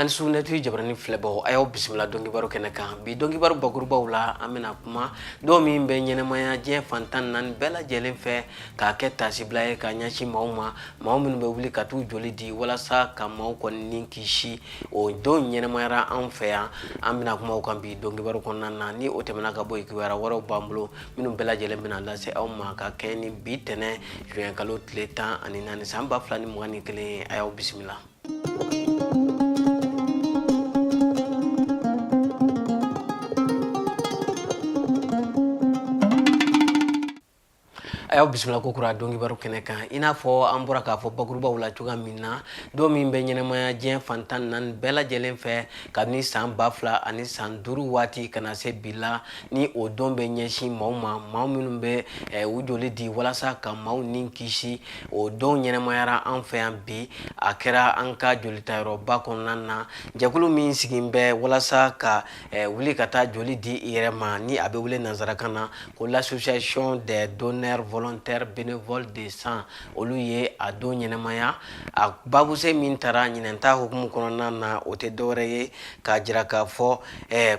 an sunna tv jabarani filɛbagaw a y'aw bisimila donkibaru kɛnɛ kan bi donkibaru bakurubaw la an bɛna kuma don min bɛ ɲɛnamaya diɲɛ fantan naani bɛɛ lajɛlen fɛ k'a kɛ taasibila ye ka ɲɛsin maaw ma maaw minnu bɛ wuli ka t'u joli di walasa ka maaw kɔni ni kisi o don ɲɛnamayara an fɛ yan an bɛna kuma kan bi donkibaru kɔnɔna na ni o tɛmɛna ka bɔ yen kibaruya wɛrɛw b'an bolo minnu bɛɛ lajɛlen bɛna lase aw ma ka kɛɲɛ ni bi tɛnɛ juin kalo tile tan ani naani san ba fila ni mugan ni kelen ye a y'aw bisimila a y'aw bisimila kokura donkibaru kɛnɛ kan i n'a fɔ an bɔra k'a fɔ bakurubaw la cogoya min na don min bɛ ɲɛnamaya diɲɛ fantan naani bɛɛ lajɛlen fɛ kabini san ba fila ani san duuru waati ka na se bi la ni o don bɛ ɲɛsin maaw ma maaw minnu bɛ eh, u joli di walasa ka maaw ni kisi o don ɲɛnamayara an fɛ yan bi a kɛra an ka jolitayɔrɔba kɔnɔna na jɛkulu min sigilen bɛ walasa ka wuli ka taa joli di i yɛrɛ ma ni a bɛ wele nansarakan na ko l'association des donneurs volontaires bénévoles de sang olu ye a don ɲɛnamaya a babusen min tara ɲinan ta hukumu kɔnɔna na o tɛ dɔwɛrɛ ye k'a jira k'a fɔ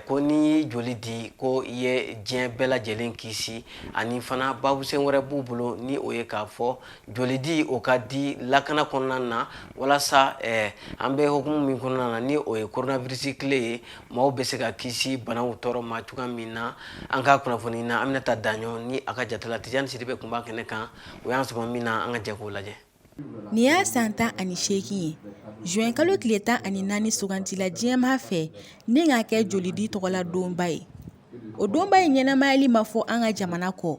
ko n'i joli di ko i ye diɲɛ bɛɛ lajɛlen kisi ani fana babusen wɛrɛ b'u bolo ni o ye k'a fɔ joli di o ka di lakana kɔnɔna na walasa eh, an bɛ hukumu min kɔnɔna na ni o ye coronavirus kile ye maaw bɛ se ka kisi banaw tɔɔrɔ ma cogoya min na an ka kunnafonina aminata daɲɔ ni a ka jatala tijani sidibe tun b'a kɛnɛ kan u y'an sɔn min na an ka jɛ k'o lajɛ nin y'a san tan ani seegin ye juin kalo tile tan ani naani sugandila diɲɛmaa fɛ ni k'a kɛ jolidi tɔgɔla donba ye o donba in ɲɛnamayali ma fɔ an ka jamana kɔ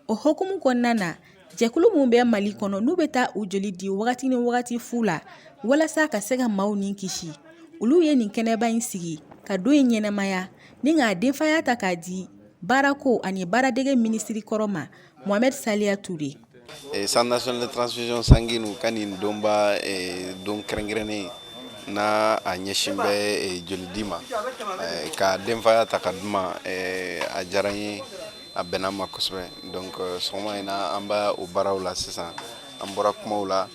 O hukumu kɔnɔna na jɛkulu minnu bɛ mali kɔnɔ n'u bɛ taa u joli di wagati ni wagati fu la walasa ka se ka maaw ni kisi olu ye nin kɛnɛba in sigi ka don in ɲɛnamaya ni k'a denfaya ta k'a di baarako ani baaradege minisiri kɔrɔ ma mohamed salia touré centre national de transfusion sanguine ka nin donba don kɛrɛnkɛrɛnnen n'a ɲɛsin bɛ jolidi ma k'a denfaya ta k'a di n ma a diyara n ye a bɛnna ma kosɛbɛ donc euh, sɔgɔma in na an b'a o baaraw la sisan an bɔra kumaw la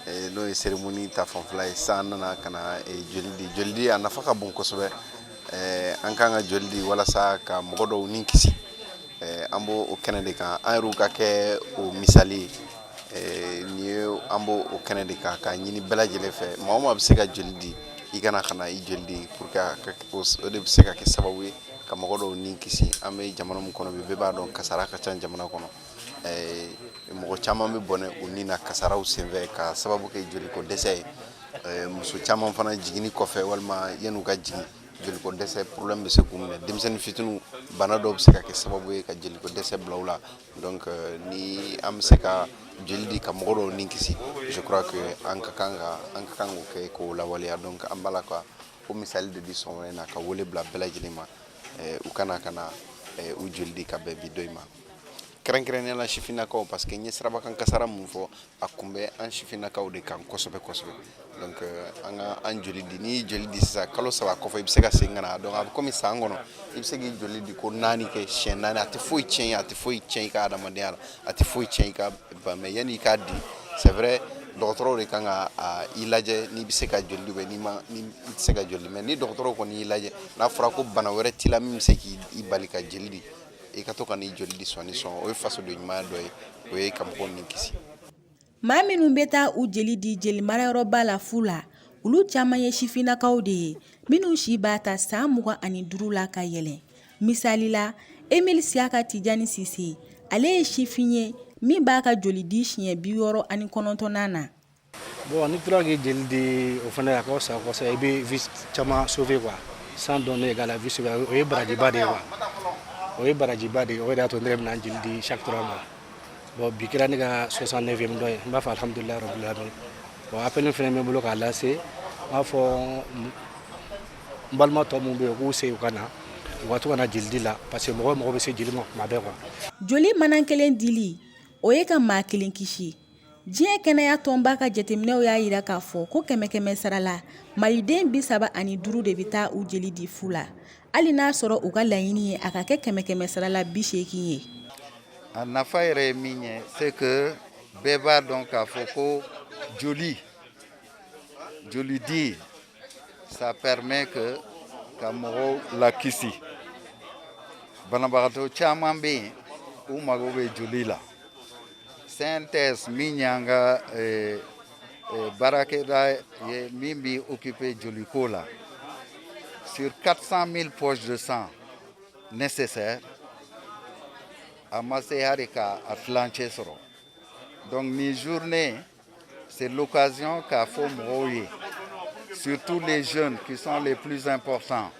eh, n'o ye cérémonie ta fanfɛla ye sisan an nana ka na eh, joli di joli di a nafa ka bon kosɛbɛ eh, an kan ka joli di walasa ka mɔgɔ dɔw ni kisi an b'o o kɛnɛ de kan an yɛrɛw ka kɛ o misali nin ye an b'o o kɛnɛ de kan k'a ɲini bɛɛ lajɛlen fɛ maa o maa bɛ se ka joli di i ka na ka na i joli di pour que o de bɛ se ka kɛ sababu ye ka mɔgɔ dɔw ni kisi an bɛ jamana min kɔnɔ bi bɛɛ b'a dɔn kasara ka ca jamana kɔnɔ eh, mɔgɔ caman bɛ bɔnɛ u ni na kasaraw senfɛ ka sababu kɛ joliko dɛsɛ ye eh, muso caman fana jiginni kɔfɛ walima yan'u ka jigin jeliko dɛsɛ problème bɛ se k'u minɛ denmisɛnnin fitiniw bana dɔw bɛ se ka kɛ sababu ye ka jeliko dɛsɛ bila u la donc euh, ni an bɛ se ka jeli di ka mɔgɔ dɔw ni kisi je crois que an ka kan ka an ka kan k'o kɛ k'o lawaleya donc an b'a la ka k'o misali de di sɔgɔma in na ka wele bila bɛɛ lajɛlen ma eh, u ka na ka na eh, u joli di ka bɛn bi don in ma kɛrɛnkɛrɛnnenya la sifinnakaw parce que n ye sirabakan kasara min fɔ a kun bɛ an sifinnakaw de kan kosɛbɛ kosɛbɛ donc eh, an ka an joli di n'i y'i joli di sisan kalo saba kɔfɛ i bɛ se ka segin ka na donc a bɛ komi san kɔnɔ i bɛ se k'i joli di ko naani kɛ siɲɛ naani a tɛ foyi tiɲɛ a tɛ foyi tiɲɛ i ka adamadenya la a tɛ foyi tiɲɛ i ka ban mais yanni i k'a di c'est vrai dɔgɔtɔrɔw de kan ka i lajɛ n'i bɛ se ka joli di walima ni i tɛ se ka joli di mais ni dɔgɔtɔrɔw kɔni y'i lajɛ n'a fɔra ko bana wɛrɛ t'i la min bɛ se k'i bali ka joli di i ka to ka n'i joli di sɔɔni sɔɔni o ye fasoden ɲumanya dɔ ye o ye ka mɔgɔw ni kisi Maa minnu bɛ taa u jeli di jeli marayɔrɔba la fu la olu caman ye sifinnakaw de ye minnu si b'a ta san mugan ani duuru la ka yɛlɛ misali la Emile Siaka Tijani Sise ale ye sifin ye min b'a ka joli di siɲɛ bi wɔɔrɔ ani kɔnɔntɔnnan na bon n'i tora k'i jeli di o fana a ka sa kɔsa i bɛ vie caman sauver quoi sang donné égal à vie sauvée o ye barajiba de ye quoi o ye barajiba de ye o y'a to ne bɛna jeli di chaque trois mois Bon bi kɛra ne ka 69ème don ye n b'a fɔ alihamudulila rabil alamin bon appel in fana bɛ n bolo k'a lase n b'a fɔ n balima tɔ minnu bɛ yen u k'u segin u ka na u ka to ka na jeli di la parce que mɔgɔ mago bɛ se jeli ma tuma bɛɛ quoi. Joli manan kelen dili o ye ka maa kelen kisi diɲɛ kɛnɛya tɔnba ka jateminɛw y'a jira k'a fɔ ko kɛmɛ kɛmɛ sara la maliden bi saba ani duuru de bɛ taa u jeli di fu la Hali n'a sɔrɔ u ka laɲini ye a ka kɛ kɛmɛ kɛmɛ sara la bi seegin ye a nafa yɛrɛ ye min ye c'est que bɛɛ b'a dɔn k'a fɔ ko joli joli di ça permet que ka mɔgɔw lakisi banabagatɔ caman bɛ yen u mago bɛ joli la CNTS min y'an ka eh, Eh, baarakɛda ye min bɛ occupé joli ko la sur 400 000 poches de sang nécessaires a ma se hali ka a tilancɛ sɔrɔ donc nin journée c'est l'occasion k'a fɔ mɔgɔw ye surtout les jeunes qui sont les plus importants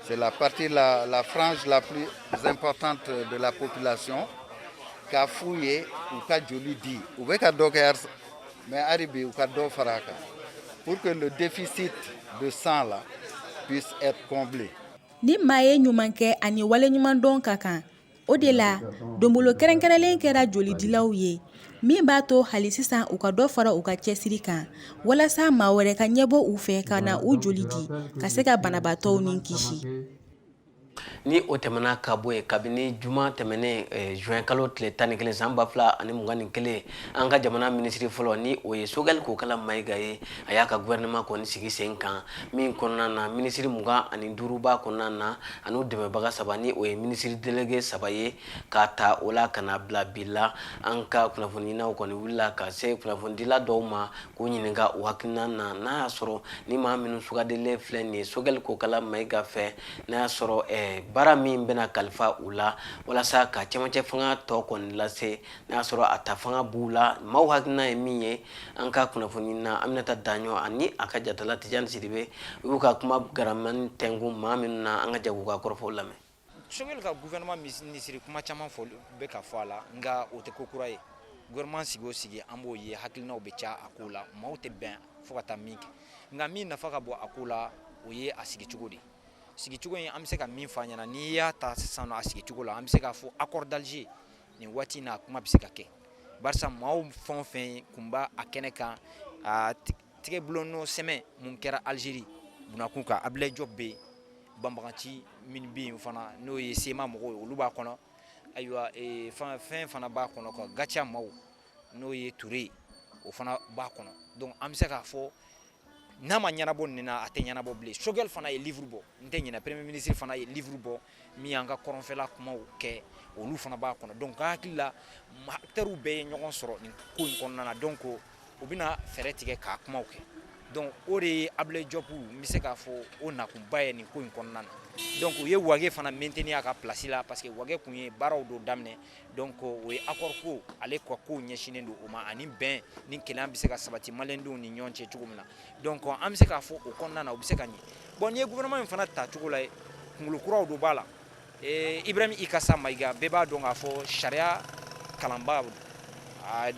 C'est la partie, la, la frange la plus importante de la population k'a f'u ye u ka joli di u bɛ ka dɔ kɛ mais hali bi u ka dɔ fara a kan pour que le déficit de sang là puisse être comblé ni maa ye ɲuman kɛ ani wale ɲuman dɔn ka kan O de la donbolo kɛrɛnkɛrɛnlen kɛra jolidilaw ye min b'a to hali sisan u ka dɔ fara u ka cɛsiri kan walasa maa wɛrɛ ka ɲɛ bɔ u fɛ ka na u joli di ka se ka banabaatɔw ni kisi ni o tɛmɛna ka bɔ yen kabini juma tɛmɛnen juin kalo tile tan ni kelen san ba fila ani mugan ni kelen an ka jamana minisiri fɔlɔ ni o ye sogɛli kokala mayiga ye a y'a ka gouvernement kɔni sigi sen kan min kɔnɔna na minisiri mugan ni duuru b'a kɔnɔna na an'u dɛmɛbaga saba ni o ye minisiri delege saba ye k'a ta o la ka na bila bi la an ka kunnafoniɲinaw kɔni wulila ka se kunnafonidila dɔw ma k'u ɲininka u hakilina na n'a y'a sɔrɔ ni maa minnu sugandilen filɛ nin ye sogɛli kokala mayiga fɛ n'a y'a sɔrɔ eh, baara min bɛna kalifa u la walasa ka cɛmancɛ fanga tɔ kɔni lase n'a y'a sɔrɔ a ta fanga b'u la maaw hakilina ye min ye an ka kunnafonina aminata daɲɔ ani a ka jatala tijani sidibe u y'u ka kuma garamani tɛnkun maa minnu na an ka jɛ k'u ka kɔrɔfɔw lamɛn sogɛli ka gouvernement minisiri kuma caman fɔ bɛ ka fɔ a la nka o tɛ ko kura ye gouvernement sigi o sigi an b'o ye hakilinaw bɛ ca a ko la maaw tɛ bɛn fo ka taa min kɛ nka min nafa ka bon a ko la o ye a sigi cogo de ye sigicogo in an bɛ se ka min fɔ a ɲɛna n'i y'a ta sisan a sigicogo la an bɛ se k'a fɔ accord d'Alger nin waati na a kuma bɛ se ka kɛ barisa maaw fɛn o fɛn tun b'a a kɛnɛ kan a tɛgɛ bolonɔ sɛbɛn min kɛra alizeri bɛnkan kan Abulayi Jɔpu bɛ yen banbaganci minnu bɛ yen fana n'o ye CMA mɔgɔw ye olu b'a kɔnɔ ayiwa fɛn fana b'a kɔnɔ Gatia maaw n'o ye Ture ye o fana b'a kɔnɔ donc an bɛ se k'a fɔ n'a ma ɲɛnabɔ nin na a tɛ ɲɛnabɔ bilen sogɛli fana ye livre bɔ n tɛ ɲinɛ premier ministre fana ye livre bɔ min y'an ka kɔrɔnfɛla kumaw kɛ olu fana b'a kɔnɔ donc ka hakili la acteurs bɛɛ ye ɲɔgɔn sɔrɔ nin ko in kɔnɔna na donc u bɛna fɛɛrɛ tigɛ k'a kumaw kɛ donc o de ye Abulayi Jɔpu n bɛ se k'a fɔ o nakunba ye nin ko in kɔnɔna na donc u ye Wage fana maintenir a ka place la parce que Wage tun ye baaraw dɔ daminɛ Donc o ye accord ko ale ka ko ɲɛsinnen don o ma ani bɛn ni kelenya bɛ se ka sabati maliyɛn denw ni ɲɔgɔn cɛ cogo min na donc an bɛ se k'a fɔ o kɔnɔna na u bɛ se ka ɲɛ bon n'i ye gouvernement in fana ta cogo lajɛ kunkolo kuraw dɔw b'a la Ibrahim Ikasa Mayiga bɛɛ b'a dɔn k'a fɔ sariya kalanba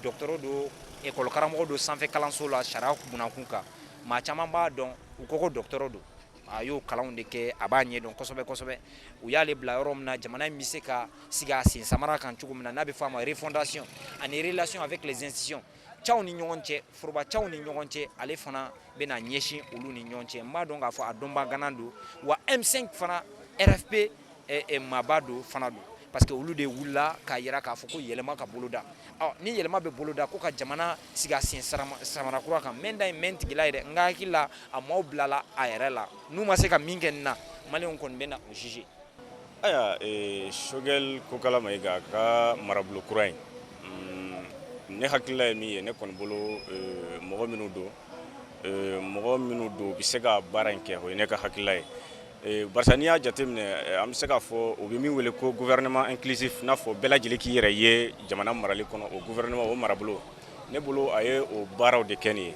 docteur don école karamɔgɔ don sanfɛ kalanso la sariya bunda kun kan maa caman b'a dɔn u ko ko docteur don a y'o kalanw de kɛ a b'a ɲɛ dɔn kosɛbɛ kosɛbɛ u y'ale bila yɔrɔ min na jamana in bɛ se ka sigi a sen samara kan cogo min na n'a bɛ fɔ a ma refondation ani relation avec les institutions cɛw ni ɲɔgɔn cɛ foroba cɛw ni ɲɔgɔn cɛ ale fana bɛna ɲɛsin olu ni ɲɔgɔn cɛ n b'a dɔn k'a fɔ a dɔnbaa ŋana don wa M5 fana RFP maaba dɔ fana don parce que olu de wulila k'a yira k'a fɔ ko yɛlɛma ka boloda ni yɛlɛma bɛ boloda ko ka jamana sigi a sen samara kura kan mɛ da ye mɛ tigila yɛrɛ n ka hakili la a maaw bilala a yɛrɛ la n'u ma se ka min kɛ nin na maliyɛnw kɔni bɛna o juger ayiwa Sogɛli Kokala Mayiga ka marabolo kura in ne hakilila ye min ye ne kɔni bolo mɔgɔ minnu don mɔgɔ minnu don u bɛ se ka baara in kɛ o ye ne ka hakilila ye Barisa n'i y'a jateminɛ an bɛ se k'a fɔ u bɛ min wele ko gouvernement inclusif n'a fɔ bɛɛ lajɛlen k'i yɛrɛ ye jamana marali kɔnɔ o gouvernement o marabolo ne bolo a ye o baaraw de kɛ nin ye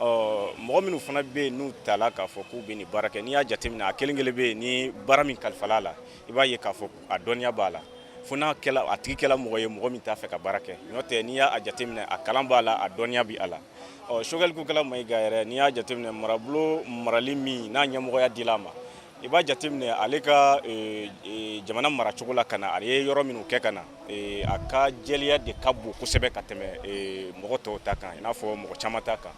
ɔ mɔgɔ minnu fana bɛ yen n'u tala k'a fɔ k'u bɛ nin baara kɛ n'i y'a jateminɛ a kelen kelen bɛɛ ni baara min kalifala la i b'a ye k'a fɔ a dɔnniya b'a la fo n'a kɛla a tigi kɛla mɔgɔ ye mɔgɔ min t'a fɛ ka baara kɛ n'o tɛ n'i y'a jateminɛ a kalan b'a la a dɔnniya bɛ a la ɔ Sogɛli Kokala Mayiga yɛrɛ n'i y'a jateminɛ marabolo marali min n'a ɲɛmɔgɔya dila a ma i b'a jateminɛ ale ka e, e, jamana maracogo la ka na a ye yɔrɔ minnu kɛ ka na e, a ka jɛlenya de ka bon kosɛbɛ ka tɛmɛ mɔgɔ tɔw ta kan i n'a fɔ mɔgɔ caman ta kan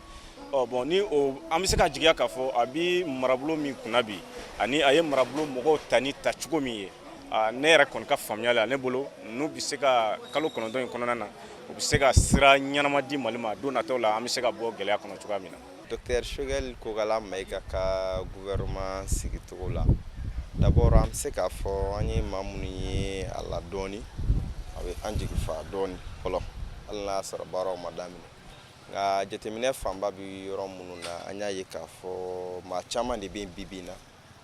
ɔ bon ni o an bɛ se ka jigiya k'a fɔ a bi marabolo min kunna bi ani a ye marabolo mɔgɔw ta ni ta cogo min ye ne yɛrɛ kɔni ka faamuya la ne bolo n'u bɛ se ka kalo kɔnɔntɔn in kɔnɔna na u bɛ se ka sira ɲɛnama di mali ma don nataw la an bɛ se ka bɔ gɛlɛya kɔnɔ cogoya min na docteur Sogɛli Kokala Mayiga ka gouvernement sigicogo la d'abord an bɛ se k'a fɔ an ye maa minnu ye a la dɔɔni a bɛ an jigi fa dɔɔni fɔlɔ hali n'a sɔrɔ baaraw ma daminɛ nka jateminɛ fanba bɛ yɔrɔ minnu na an y'a ye k'a fɔ maa caman de bɛ bi bi in na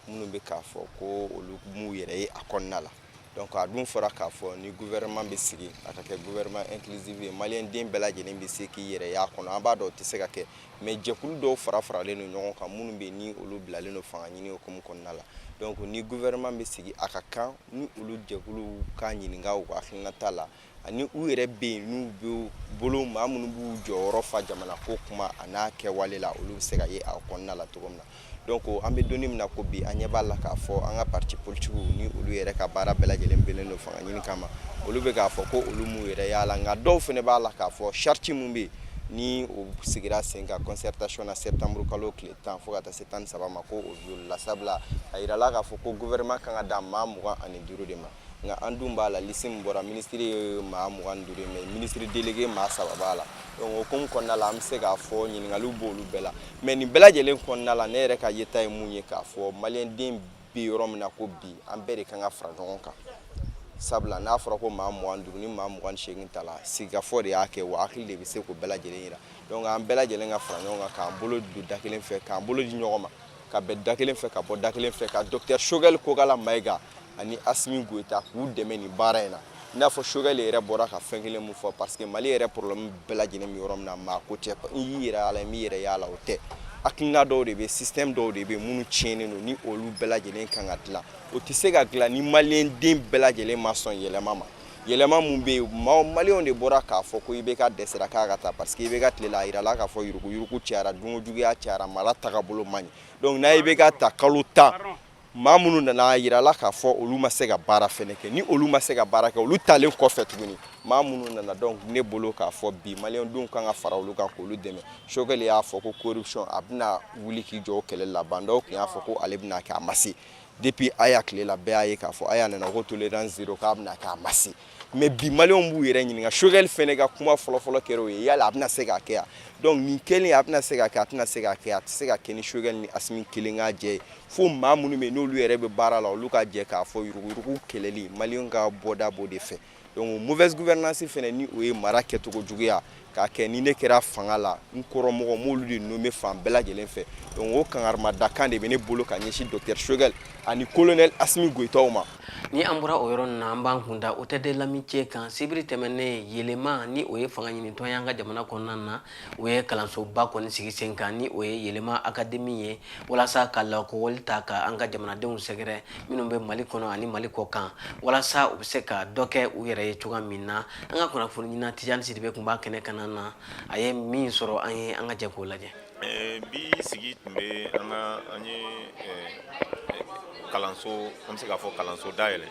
minnu bɛ k'a fɔ ko olu m'u yɛrɛ ye a kɔnɔna la donc a dun fɔra k'a fɔ ni gouvernement bɛ sigi a ka kɛ gouvernement inclusive ye maliyɛn den bɛɛ lajɛlen bɛ se k'i yɛrɛ y'a kɔnɔ an b'a dɔn o tɛ se ka kɛ mais jɛkulu dɔw fara faralen don ɲɔgɔn kan minnu bɛ ni olu bilalen don fanga ɲini hukumu kɔnɔna la donc ni gouvernement bɛ sigi a ka kan ni olu jɛkuluw ka ɲininka u ka hakilinata la ani u yɛrɛ bɛ yen n'u bɛ bolo maa minnu b'u jɔyɔrɔ fa jamana ko kuma an'a kɛwale la olu bɛ se ka ye a kɔnɔna la cogo min na donc an bɛ donni min na ko bi an ɲɛ b'a la k'a fɔ an ka parti politigiw ni olu yɛrɛ ka baara bɛɛ lajɛlen bɛnnen don fanga ɲini kama olu bɛ k'a fɔ ko olu m'u yɛrɛ y'a la nka dɔw fana b'a la k'a fɔ charte min bɛ yen ni o sigira sen kan concertation na septembre kalo tile tan fo ka taa se tan ni saba ma ko o violela sabula a yirala k'a fɔ ko gouvernement kan ka dan maa mugan ani duuru de ma nka an dun b'a la lisi min bɔra minisiri ye maa mugan ni duuru ye mais minisiri delege maa saba b'a la donc o hukumu kɔnɔna la an bɛ se k'a fɔ ɲininkaliw b'olu bɛɛ la mais nin bɛɛ lajɛlen kɔnɔna la ne yɛrɛ ka yeta ye mun ye k'a fɔ maliyɛnden bɛ yɔrɔ min na ko bi an bɛɛ de kan ka fara ɲɔgɔn kan sabula n'a fɔra ko maa mugan ni duuru ni maa mugan ni seegin ta la sigikafɔ de y'a kɛ wa hakili de bɛ se k'o bɛɛ lajɛlen yira donc an bɛɛ lajɛlen ka fara ɲɔgɔn kan k'an bolo don da kelen fɛ k'an bolo di ɲɔgɔn ma ka bɛn da kelen fɛ ka bɔ da kelen fɛ ka dɔkitɛr sogɛli kokala mayiga ani asimi goyita k'u dɛmɛ nin baara in na i n'a fɔ sogɛli yɛrɛ bɔra ka fɛn kelen min fɔ parce que mali yɛrɛ poroblɛmu bɛɛ lajɛlen bɛ yɔrɔ min na maa ko tɛ i y'i yɛrɛ y'a la i m'i yɛrɛ y'a la o tɛ hakilina dɔw de bɛ système dɔw de bɛ minnu tiɲɛnen don ni olu bɛɛ lajɛlen kan ka dilan o tɛ se ka dilan ni maliyɛnden bɛɛ lajɛlen ma sɔn yɛlɛma ma yɛlɛma min bɛ yen maliyɛnw de bɔra k'a fɔ ko IBK dɛsɛra k'a ka taa parce que IBK tile la a yirala k'a fɔ yuruguyurugu cayara dunko juguya cayara mara tagabolo man ɲi donc ni IBK taa kalo tan maa minnu nana a yirala k'a fɔ olu ma se ka baara fɛnɛ kɛ ni olu ma se ka baara kɛ olu taalen kɔfɛ tuguni maa minnu nana donc ne bolo k'a fɔ bi maliyɛndenw kan ka fara olu kan k'olu dɛmɛ sogɛli y'a fɔ ko corruption a bɛna wuli k'i jɔ o kɛlɛ la ba ndaw tun y'a fɔ ko ale bɛna kɛ a ma se depuis aya tile la bɛɛ y'a ye k'a fɔ aya nana ko tolérance zéro k'a bɛna kɛ a ma se mais bi maliyɛnw b'u yɛrɛ ɲininka sogɛli fɛnɛ ka kuma fɔlɔfɔlɔ kɛra o ye yala a bɛna se k'a kɛ wa donc nin kelen a bɛna se k'a kɛ a tɛna se k'a kɛ a tɛ se ka kɛ ni sogɛli ni asimi kelen ka jɛ ye fo maa minnu bɛ yen n'olu yɛrɛ bɛ baara la olu ka jɛ k'a fɔ yuruguyurugu kɛlɛli maliyɛnw ka bɔda b'o de fɛ donc mauvaise gouvernance fɛnɛ ni o ye mara kɛcogo juguya k'a kɛ ni ne kɛra fanga la n kɔrɔmɔgɔ m'olu de nommer fan bɛɛ lajɛlen fɛ donc o kankarimadakan de bɛ ne bolo ka ɲɛsin docteur shogɛl ani kolonɛl asimi goyitaw ma ni an bɔra o yɔrɔ na an b'an kun da hôtel de l'amitié kan sibiri tɛmɛnen yelema ni o ye fanga ɲinitɔn y'an ka jamana kɔnɔna na u ye kalansoba kɔni sigi sen kan ni o ye yɛlɛma akademi ye walasa ka lakɔli ta ka an ka jamanadenw sɛgɛrɛ minnu bɛ mali kɔnɔ ani mali kɔ kan walasa u bɛ se ka dɔ kɛ u yɛrɛ ye cogoya min na an ka kunnafoniɲinina tijani sidibe tun b'a kɛnɛ kan na a ye min sɔrɔ an ye an ka jɛ k'o lajɛ bi sigi tun bɛ an ka an ye kalanso an bɛ se k'a fɔ kalanso dayɛlɛn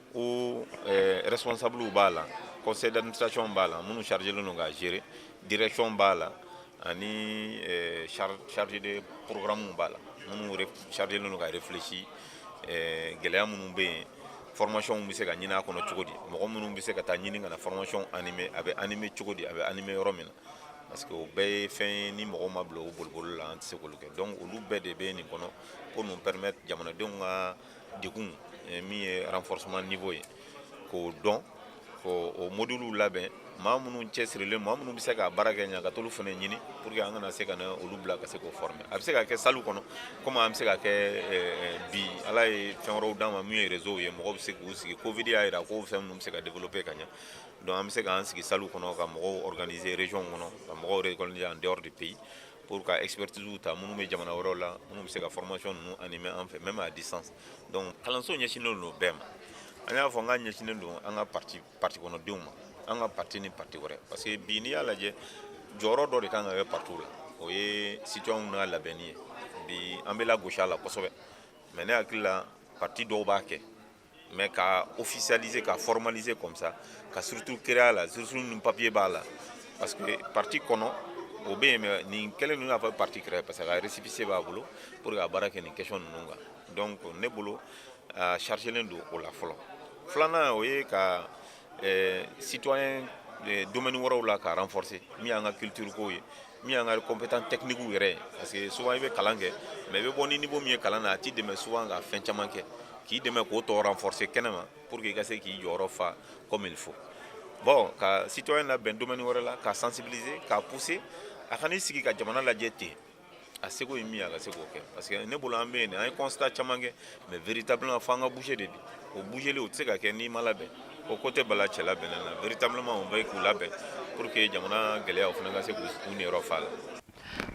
ko eh, responsablew b'a la conseil d'administration b'a la minnu chargelen don k'a gérer direction b'a la ani eh, chargé de programmew b'a la minnu chargelen don ka réfléchir eh, gɛlɛya minnu bɛ yen formation bɛ se ka ɲini a kɔnɔ cogo di mɔgɔ minnu bɛ se ka taa ɲini ka na formation animé a bɛ animé cogo di a bɛ animé yɔrɔ min na parce que o bɛɛ ye fɛn ye ni mɔgɔ ma bila o boliboli la an tɛ se k'olu kɛ donc olu bɛɛ de bɛ nin kɔnɔ pour nous permettre jamanadenw ka degun eh, min ye renforcement niveau ye k'o dɔn k'o modules labɛn maa minnu cɛsirilen maa minnu bɛ se ka baara kɛ ɲa ka t'olu fana ɲini pour que an ka na se ka na olu bila ka se k'o former a bɛ se ka kɛ salle kɔnɔ komi an bɛ se ka kɛ eh, bi ala ye fɛn wɛrɛw d'an ma min ye réseau ye mɔgɔw bɛ se k'u sigi covid y'a jira ko fɛn minnu bɛ se ka développer ka ɲa donc an bɛ se k'an sigi salle kɔnɔ ka mɔgɔw organiser région kɔnɔ ka mɔgɔw récolter en dehors du pays pour ka expertise ta minnu bɛ jamana wɛrɛw la minnu bɛ se ka formation ninnu animer an fɛ même à distance donc kalanso ɲɛsinnen don bɛɛ ma an y'a fɔ an k'a ɲɛsinnen don an ka parti kɔnɔdenw ma an ka parti ni parti wɛrɛ parce que bi n'i y'a lajɛ jɔyɔrɔ dɔ de kan ka kɛ partiw la o ye citoyenw n'a labɛnni ye bi an bɛ lagosi a la kosɛbɛ mais ne hakili la parti dɔw b'a kɛ mais ka officialiser ka formaliser comme ça ka structure créer a la structure ni papier b'a la parce que parti kɔnɔ o bɛ yen mais nin kɛlen don i n'a fɔ parti kura parce que a récépissé b'a bolo pour ka baara kɛ nin question ninnu kan donc ne bolo a chargelen don o la fɔlɔ filanan o ye ka eh, citoyen eh, domaine wɛrɛw la ka renforcer min y'an ka culture kow ye min y'an ka compétence techniquew yɛrɛ ye parce que souvent i bɛ kalan kɛ mais i bɛ bɔ ni niveau min ye kalan na a t'i dɛmɛ souvent ka fɛn caman kɛ k'i dɛmɛ k'o tɔ renforcer kɛnɛma pour que i ka se k'i jɔyɔrɔ fa comme il faut bon ka citoyen labɛn domaine wɛrɛ la k'a sensibiliser k'a pousser a kana i sigi ka jamana lajɛ ten a seko ye min ye a ka se k'o kɛ parce que ne bolo an bɛ yen de an ye constat caman kɛ mais véritablement fo an ka bouger de bi o bougeli o tɛ se ka kɛ n'i ma labɛn ko ko tɛ bala cɛ labɛnnen na véritablement o bɛ k'u labɛn pour que jamana gɛlɛya u fana ka se k'u niyɔrɔ fa a la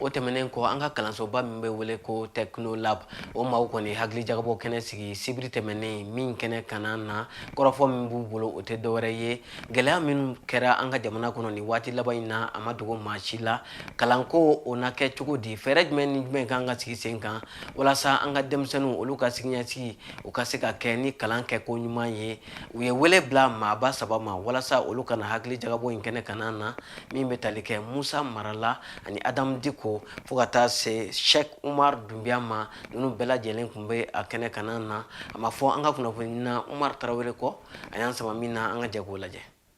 o tɛmɛnen kɔ an ka kalansoba min bɛ wele ko technolab o maaw kɔni hakili jagabɔ kɛnɛ sigi sibiri tɛmɛnen min kɛnɛ kana na kɔrɔfɔ min b'u bolo o tɛ dɔwɛrɛ ye gɛlɛya minnu kɛra an ka jamana kɔnɔ nin waati laban in na a ma dogo maa si la kalanko o na kɛ cogo di fɛɛrɛ jumɛn ni jumɛn kan ka sigi sen kan walasa an ka denmisɛnninw olu ka siniɲɛsigi u ka se ka kɛ ni kalan kɛko ɲuman ye u ye wele bila maaba saba ma walasa olu ka na hakili jagabɔ in kɛnɛ kana na min bɛ tali kɛ musa mara la ani adam diko fo ka taa se sɛk umar dunbiya ma ninnu bɛɛ lajɛlen tun bɛ a kɛnɛ kana na an mafɔ an ka kunnafonina umar tarawele kɔ a y'an sama min na an ka jɛ k'o lajɛ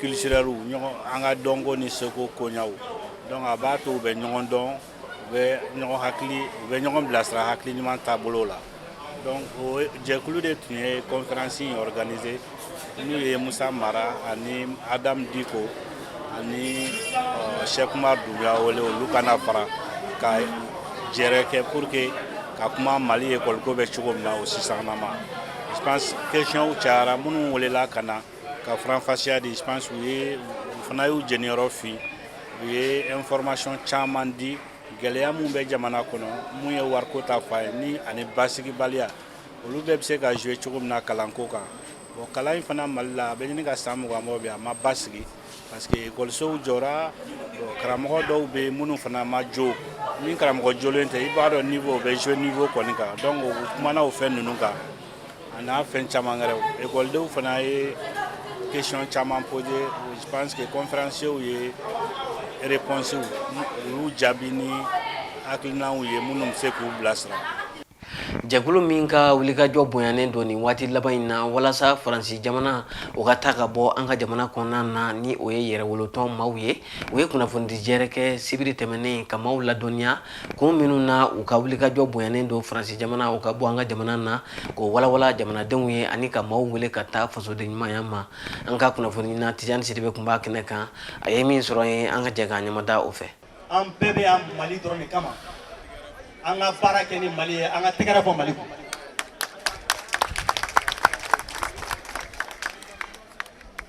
culturelles an ka dɔnko ni seko koɲaw donc a b'a to u bɛ ɲɔgɔn dɔn u bɛ ɲɔgɔn hakili u bɛ ɲɔgɔn bilasira hakili ɲuman taabolo la donc o jɛkulu de tun ye kɔnferansi in ɔriganize n'u ye musa mara ani adamu diko ani sɛki umaru dumbiya wele olu ka na fara ka jɛrɛ kɛ pour que ka kuma mali ekɔliko bɛ cogo min na o sisanama je pense questionw cayara minnu welela ka na ka faranfasiya di je pense u ye u fana y'u jɛniyɔrɔ fin u ye information caman di gɛlɛya mun bɛ jamana kɔnɔ mun ye wariko ta fan ye ni ani basigibaliya olu bɛɛ bɛ se ka jouer cogo min na kalanko kan bon kalan in fana mali la a bɛ ɲini ka san mugan bɔ bi a ma basigi parce que ekɔlisow jɔra karamɔgɔ dɔw bɛ yen minnu fana ma jɔ ni karamɔgɔ jɔlen tɛ i b'a dɔn niveau bɛ jouer niveau kɔni kan donc u kumana o fɛn ninnu kan A n'a fɛn caman wɛrɛw ekɔlidenw fana ye question caman poser je pense conférencierw ye réponsew olu jaabi ni hakilinaw ye minnu bɛ se k'u bilasira jɛkulu min ka wulikajɔ bonyanen don nin waati laban in na walasa faransi jamana o ka taa ka bɔ an ka jamana kɔnɔna na ni o ye yɛrɛwolotɔn maaw ye u ye kunnafonidijɛɛrɛ kɛ sibiri tɛmɛnen ka maaw ladɔnniya Kun minnu na u ka wulikajɔ bonyanen don faransi jamana o ka bɔ an ka jamana na k'o walawalan jamanadenw ye ani ka maaw wele ka taa fasoden ɲumanya ma an ka kunnafonina tijani sidibe kun b'a kɛnɛ kan a ye min sɔrɔ yen an ka jɛ ka ɲamada o fɛ an bɛɛ bɛ yan mali dɔrɔn kama an ka baara kɛ ni mali ye an ka tɛgɛrɛ fɔ mali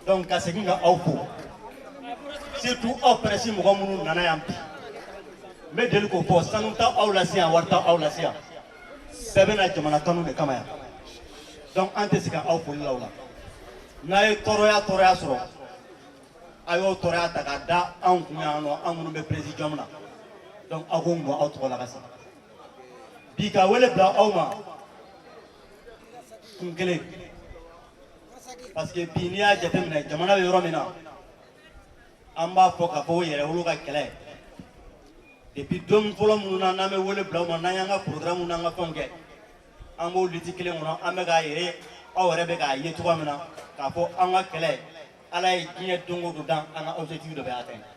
donc ka segin ka aw fo surtout aw pɛrɛsi mɔgɔ minnu nana yan bi n bɛ deli k'o fɔ sanu t'aw lase yan wari t'aw lase yan bɛɛ bɛ na jamana kanu de kama yan donc an tɛ se ka aw foli la o la n'a ye tɔɔrɔya tɔɔrɔya sɔrɔ a y'o tɔɔrɔya ta k'a da anw kun yan nɔ an minnu bɛ presidium na donc aw ko n bɔ aw tɔgɔ la ka se bi ka wele bila aw ma kun kelen parce que bi n'i y'a jateminɛ jamana bɛ yɔrɔ min na an b'a fɔ k'a fɔ ko yɛrɛwolo ka kɛlɛ depuis don fɔlɔ minnu na n'an bɛ wele bila aw ma n'an y'an ka programme n'an ka fɛnw kɛ an b'o liti kelen kɔnɔ an bɛ k'a yɛrɛ aw yɛrɛ bɛ k'a ye cogoya min na k'a fɔ an ka kɛlɛ ala ye diɲɛ don o don dan an ka objectif dɔ bɛ atteindre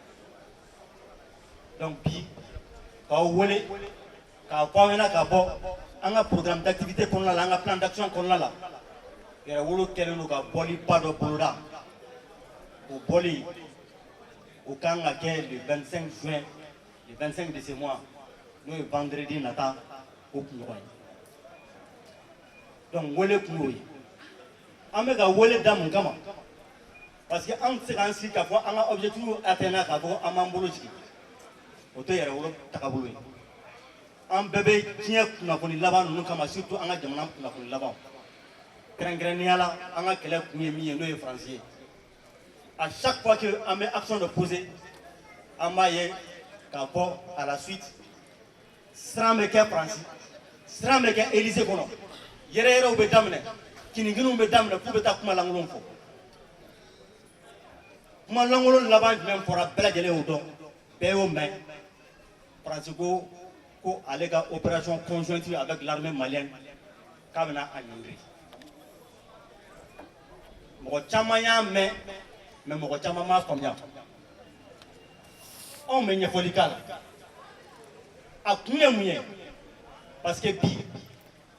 donc bi k'aw wele k'a fɔ aw ɲɛna ka bɔ an ka programme d'activité kɔnɔna la an ka plan d'action kɔnɔna la yɛrɛwolo kɛlen don ka bɔli ba dɔ boloda o bɔli o kan ka kɛ le 25 juin le 25 de ce mois n'o ye vendredi nata o kunɲɔgɔn ye donc wele kun y'o ye an bɛ ka wele da mun kama parce que an tɛ se k'an sigi k'a fɔ an ka objectif atteindre k'a fɔ an b'an bolo jigin o tɛ yɛrɛwolo tagabolo ye an bɛɛ bɛ diɲɛ kunnafoni laban ninnu kalama surtout an ka jamana kunnafoni laban kɛrɛnkɛrɛnnenya la an ka kɛlɛ kun ye min ye n'o ye faransi ye à chaque fois que an bɛ action dɔ poser an b'a ye k'a fɔ à la suite siran bɛ kɛ faransi siran bɛ kɛ élysée kɔnɔ yɛrɛyɛrɛw bɛ daminɛ kininkiniw bɛ daminɛ k'u bɛ taa kuma lankolon fɔ kuma lankolon laban jumɛn fɔra bɛɛ lajɛlen y'o dɔn bɛɛ y'o mɛn faransi ko ko ale ka opération conjointe avec l'armée malienne k'a bɛna a ɲɔngiri mɔgɔ caman y'a mɛn mais mɔgɔ caman m'a faamuya anw bɛ ɲɛfɔli k'a la a kun ye mun ye parce que bi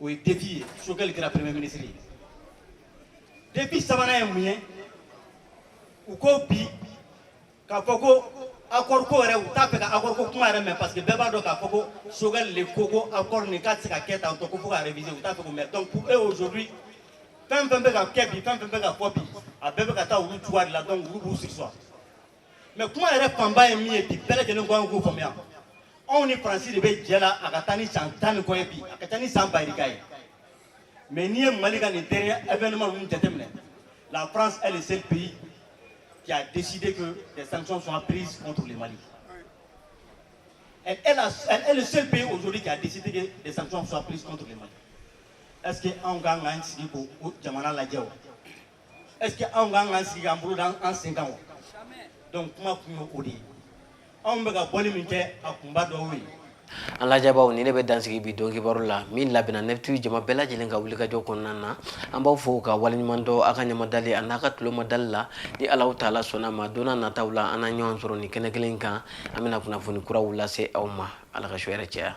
o ye défi ye choguel kɛra premier ministre ye défi sabanan ye mun ye u ko bi k'a fɔ ko accord ko yɛrɛ u t'a fɛ ka accord ko kuma yɛrɛ mɛn parce que bɛɛ b'a dɔn k'a fɔ ko choguel le ko ko accord nin k'a tɛ se ka kɛ tan tɔ ko fo ka réviser u t'a fɛ k'o mɛn donc pour eux aujourd'hui fɛn fɛn bɛ ka kɛ bi fɛn fɛn bɛ ka fɔ bi a bɛɛ bɛ ka taa olu juguya de la donc olu b'u sigi sɔrɔ mais kuma yɛrɛ fanba ye min ye bi bɛɛ lajɛlen ka kan k'o faamuya anw ni faransi de bɛ jɛ la a ka taa ni san tan ni kɔ ye bi a ka taa ni san bayirika ye mais n'i ye mali ka nin dernier événement ninnu jateminɛ la france est le seul pays qui a décidé que des sanctions soient prises contre le mali elle est, la, elle est le seul pays aujourd'hui qui a décidé que des sanctions soient prises contre le mali est ce que anw ka kan k'an sigi k'o jamana lajɛ wa est-ce que anw ka kan k'an sigi k'an bolo da an sen kan wa donc kuma kun ye o de ye anw bɛ ka bɔli min kɛ a kunba dɔ y'o ye an lajɛbaaw nin de bɛ dansigi bi don kibaru la min labɛnna nɛfitiw jama bɛɛ lajɛlen ka wulikajɔ kɔnɔna na an b'aw fo ka waleɲuman dɔn a ka ɲɛmadali a n'a ka tulomadali la ni alahu taala sɔnna a ma don nataw la an na ɲɔgɔn sɔrɔ nin kɛnɛ kelen kan an bɛna kunnafoni kuraw lase aw ma ala ka su hɛrɛ caya